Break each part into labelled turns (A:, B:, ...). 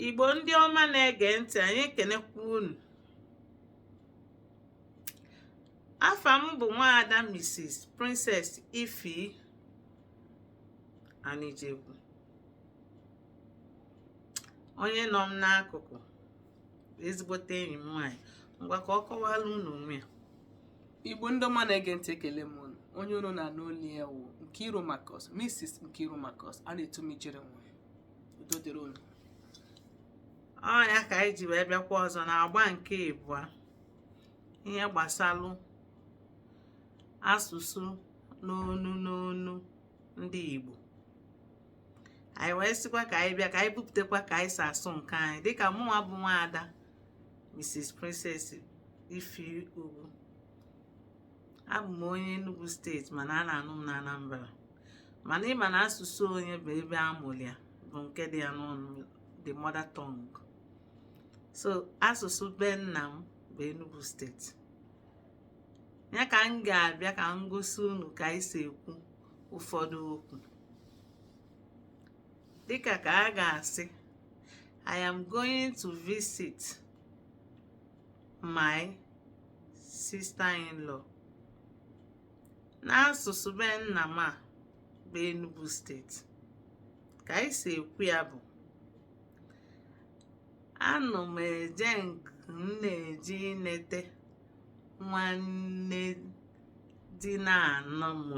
A: Igbo ndị ọma na-ege ntị anyị ekenekwa unu afa m bụ nwaada Mrs. Princess Ifi Anijegwu onye nọ m n'akụkụ ezigbote enyi m nwaanyị ngwa ka ọ kọwara unu onwe ya igbo
B: ndị ọma na-ege ntị ekele m unu onye unu na-anụ olu ya wụ Nkiru Marcus Mrs Nkiru Marcus a na-etu m ijere nwa udo dịrị
A: unu ọ nya ka anyị ji wee bịakwa ọzọ na agba nke ịbụa ihe gbasalụ asụsụ n'onu n'onu ndị Igbo anyị wee sịkwa ka anyị bịa ka anyị bupụtakwa ka anyị si asụ nke anyị dịka mụnwa bụ nwaada Mrs Princess Ifi Ugwu abụ m onye Enugu steeti mana a na-anụ m na Anambra mana ị ma na asụsụ onye bụ ebe a mụrụ ya bụ nke dị ya n'ọnụ the mother tongue so asụsụ be nna m bụ Enugu steeti ya ka m ga-abịa ka m gosi unu ka anyị si ekwu ụfọdụ okwu dịka ka a ga-asị I am going to visit my sister-in-law n'asụsụ be nna m a bụ Enugu steeti ka anyị si ekwu ya bụ anọ m eje nke m na-eje inete nwanne di na-anụ
B: m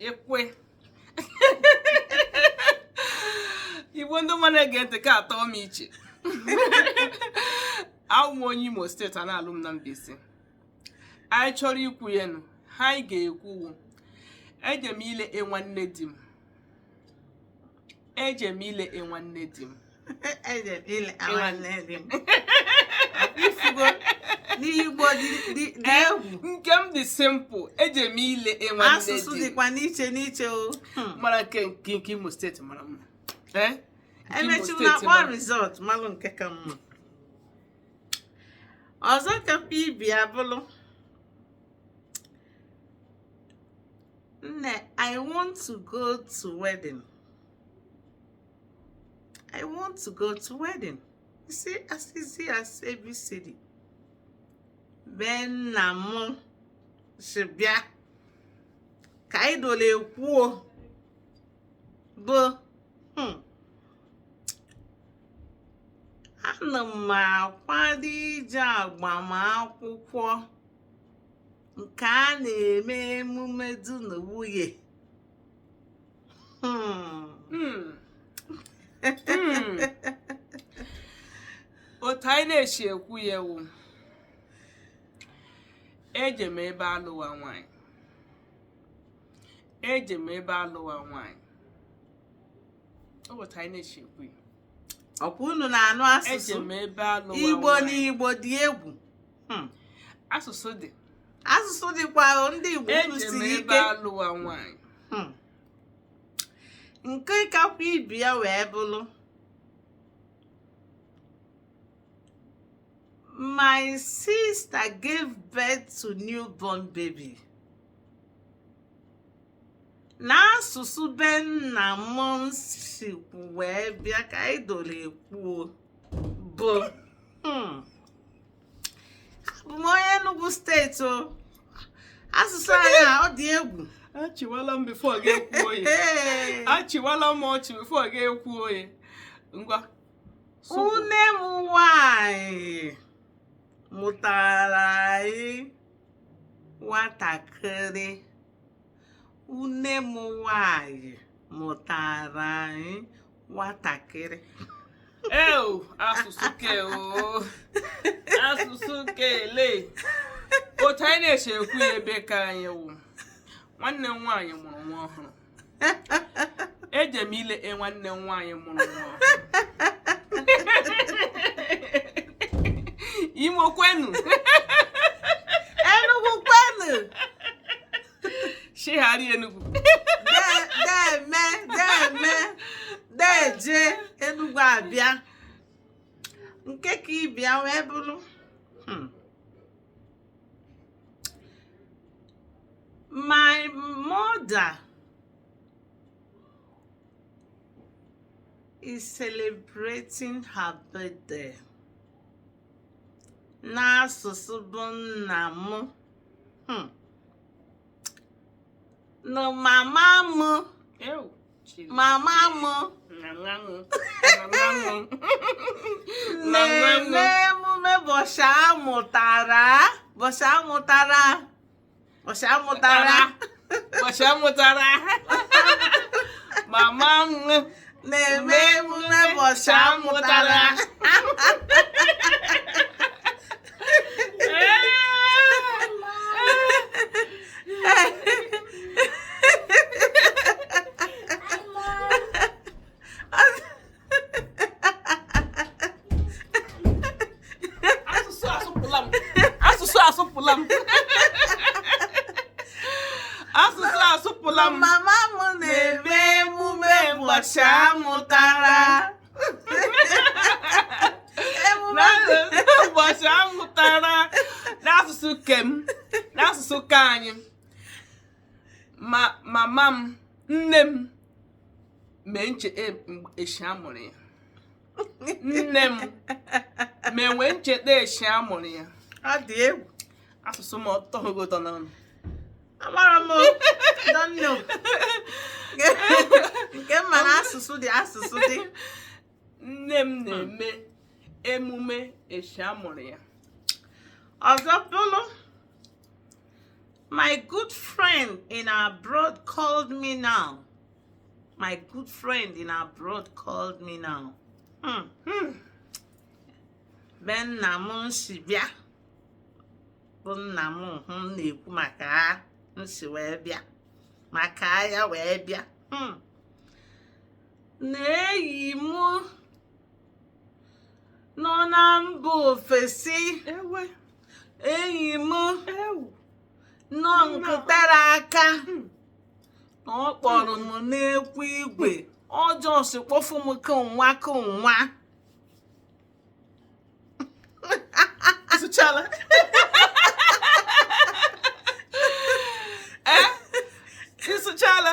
B: ekwe igbo ndị ọma na-ege ntị ka atọ m iche awụ m onye imo steeti a na-alụ m na Mbaise anyị chọrọ ikwu ya nụ ihe anyị ga-ekwu wụ eje m ile nwanne di m eje m ile e nwanne di m eje m ile nwanne di
A: m. Ị fụgo na Igbo dị dị dị egwu. nke m dị
B: simple eje m ile e nwanne di m. Asụsụ dịkwa n'iche
A: n'iche o. Hmm. mara nke
B: nke nke imo steeti mara mma Eh?
A: Nke Imo steeti mara mma. E mechaa a kpọọ result malụ nke ka mma. Ọzọ ka mkpa ibi abụlụ. nne i want to go to wedding i want to go to wedding you see as easy as abcd be nna m si bịa ka anyị dole ekwuo bụ hmm, ana m akwado ije agbamakwụkwọ nke a na-eme emume di na nwunye hmm.
B: Hmm. Hmm. otu anyị na-esi ekwu ya wụ eje m ebe alụwa nwanyị eje m ebe alụwa nwanyị otu anyị na-esi ekwu ya ọkwa unu
A: na-anụ asụsụ
B: igbo na igbo
A: dị
B: egwu Hmm. asụsụ dị asụsụ
A: dịkwa o, ndị igbo eje m unu siri ebe ike alụwa
B: nwaanyị
A: Hmm. nke kakwa ịbịa wee bụrụ my sister gave birth to newborn baby n'asụsụ be nna m sikwu wee bịa ka anyị doro ekwuo bụ hmm, abụ m onye Enugu steeti o asụsụ anyị a ọ dị egwu achịwala m
B: before gị ekwuo ye achịwala m ọchị before gị ekwuo ye
A: ngwa nwunne m nwanyị mụtara anyị nwatakịrị nwunne m nwanyị mụtara anyị nwatakịrị eu
B: asụsụ ke o asụsụ ke ele otu anyị na-esi ekwu ya ebe ka anyị wụ nwanne m nwaanyị mụrụ nwa ọhụrụ eje m ile nwanne m nwaanyị mụrụ nwa imo kwenu
A: enugwu kwenu
B: shegharị enugwu deme
A: deme deje enugwu abịa nke ka ịbịa wee bụrụ hmm. my mother is celebrating her birthday n'asụsụ be nna m hmm. na mama m mama m na-eme emume bọchị amụtara bọchị amụtara bọchị amụtara bọchị
B: amụtara mama m na-eme
A: emume bọchị amụtara
B: asụsụ asụpụla m asụsụ asụpụla m asụsụ asụpụla m mama m na-eme
A: emume ụbọchị a
B: mụtara emume ụbọchị a mụtara n'asụsụ ke m n'asụsụ ke anyị ma mama m nne m mee ncheta echi a mụrụ ya nne m na-enwe ncheta echi a mụrụ ya ọ dị
A: egwu asụsụ
B: m ọ tọghị ụtọ n'ọnụ
A: amara m don't know nke m ma na asụsụ dị asụsụ dị
B: nne m na-eme emume echi a mụrụ ya
A: ọzọ bụrụ my good friend in abroad called me now my good friend in abroad called me now hmm. Hmm. be nna m m si bịa bụ nna m hụ m na-ekwu maka ha m si wee bịa maka ya wee bịa hmm. na enyi m nọ na mba ofesi ewe enyi m ewu nọ nkụ tere aka Hmm. na ọ kpọrọ m n'ekwu igwe ọjọọ si kpọfụ m kụnwa kụnwa
B: Ị sụchala. Eh? Ị sụchala.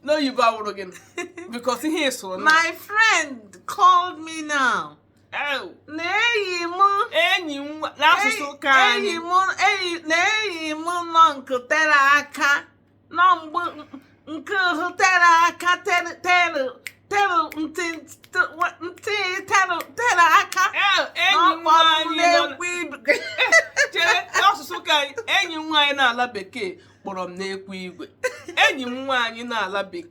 B: N'oyibo awụrụ gị because ihe ị sụrụ na. My
A: friend called me now. Oh. Na enyi m. Enyi m
B: n'asụsụ ke anyị. Enyi m enyi na enyi
A: m nọ nkụ tere aka. nọ mgbe nke ahụ tere aka tere tere tere ntị ntị tere tere aka enyi
B: nwaanyị chere asụsụ ka enyi nwaanyị n'ala bekee kpọrọ m n'ekwu igwe enyi m nwaanyị n'ala bekee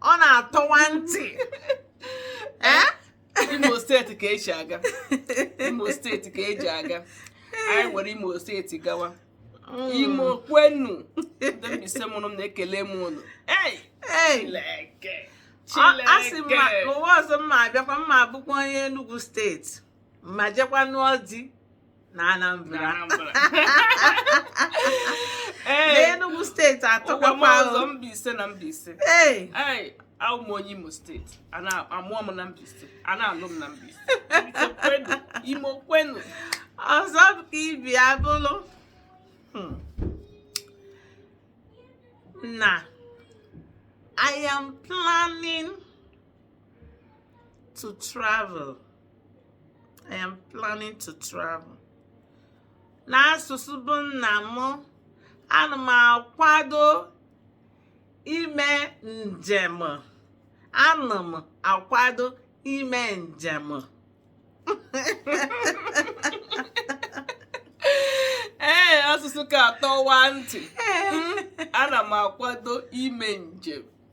A: ọ na-atọwa ntị
B: eh? imo steeti ka e ji aga imo steeti ka e ji aga anyị nwere imo steeti gawa mm. imo kwenu ndị Mbaise mụrụ m na-ekele m unu asị m ma
A: ụwa ọzọ m ma abịakwa m ma abụkwa onye Enugu steeti ma jekwa nụọ di na Anambra n'Enugu steeti atọkwa ọzọ Mbaise
B: na Mbaise awụ m onye Imo steeti a mụọ m na Mbaise a na-alụ m na Mbaise imo kwenu
A: ọzọ ka ibi abụlụ hmm. na I am planning to travel. I am planning to travel. N'asụsụ be nna m, ana m akwado ime njem. Ana m akwado ime
B: njem. ee asụsụ ka atọwa ntị ana m akwado ime njem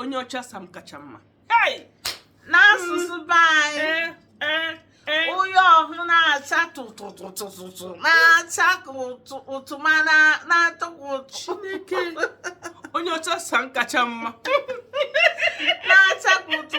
B: onye ọcha sam kacha mma n'asụsụ
A: be anyị eh, eh, eh. onye ọhụrụ na-acha tụtụtụtụtụ na-acha ụtụ ma na-atọ chineke
B: onye ọcha sam kacha mma na-acha
A: ụtụ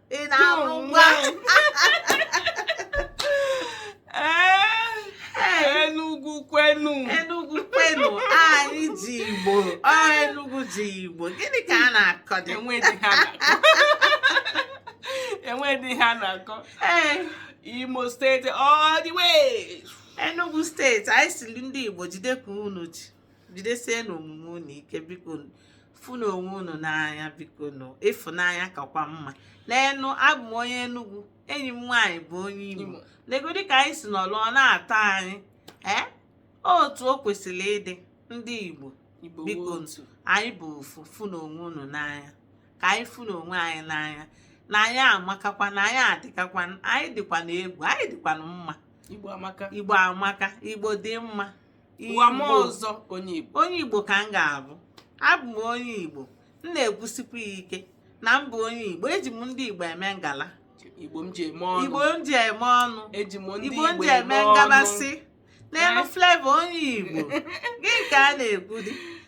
A: ị na-amụ
B: nwa enugwu kwenu enugwu kwenu
A: anyị ji igbo ọ enugwu ji igbo gịnị ka a na-akọdị e nwedị
B: ihe a na-akọ imo steeti all the way enugwu steeti
A: anyị sịrị ndị igbo jide ka unu ji jidesienụ omume unu ike biko fụnụ onwe unu n'anya bikonụ ịfụnanya kakwa mma neenụ abụ m onye Enugu enyi m nwaanyị bụ onye Imo negodi ka anyị si nọlụ ọ na-atọ anyị ee otu o kwesịrị ịdị ndị Igbo bikonụ anyị bụ ofu fụnụ onwe unu n'anya ka anyị fụnụ onwe anyị n'anya na anyị amakakwa na anyị adịkakwa anyị dịkwanụ egwu anyị dịkwanụ mma
B: igbo amaka
A: igbo dị mma ụwa
B: m ọzọ onye igbo onye igbo ka m
A: ga-abụ abụ m onye igbo m na-ekwusikwa ya ike na m bụ onye igbo eji m ndị igbo eme ngala igbo m ji
B: eme ọnụ igbo m ji
A: eme ọnụ eji m ndị igbo m igbo
B: ji eme eme ọnụ ngabasị
A: neenụ Flavour onye igbo gịnị ka a na-ekwudị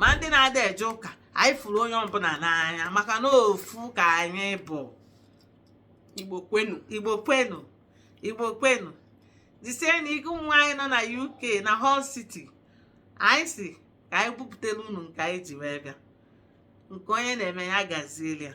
A: ma ndị na-ada eje ụka anyị fụrụ onye ọbụla n'anya maka na ofu ka anyị bụ
B: igbo kwenu igbo kwenu
A: igbo kwenu jisienụ ike ụmụ anyị nọ na uk na hull city anyị sị ka anyị bupụtara unu nke anyị ji wee bịa nke onye na-eme ya gaziere ya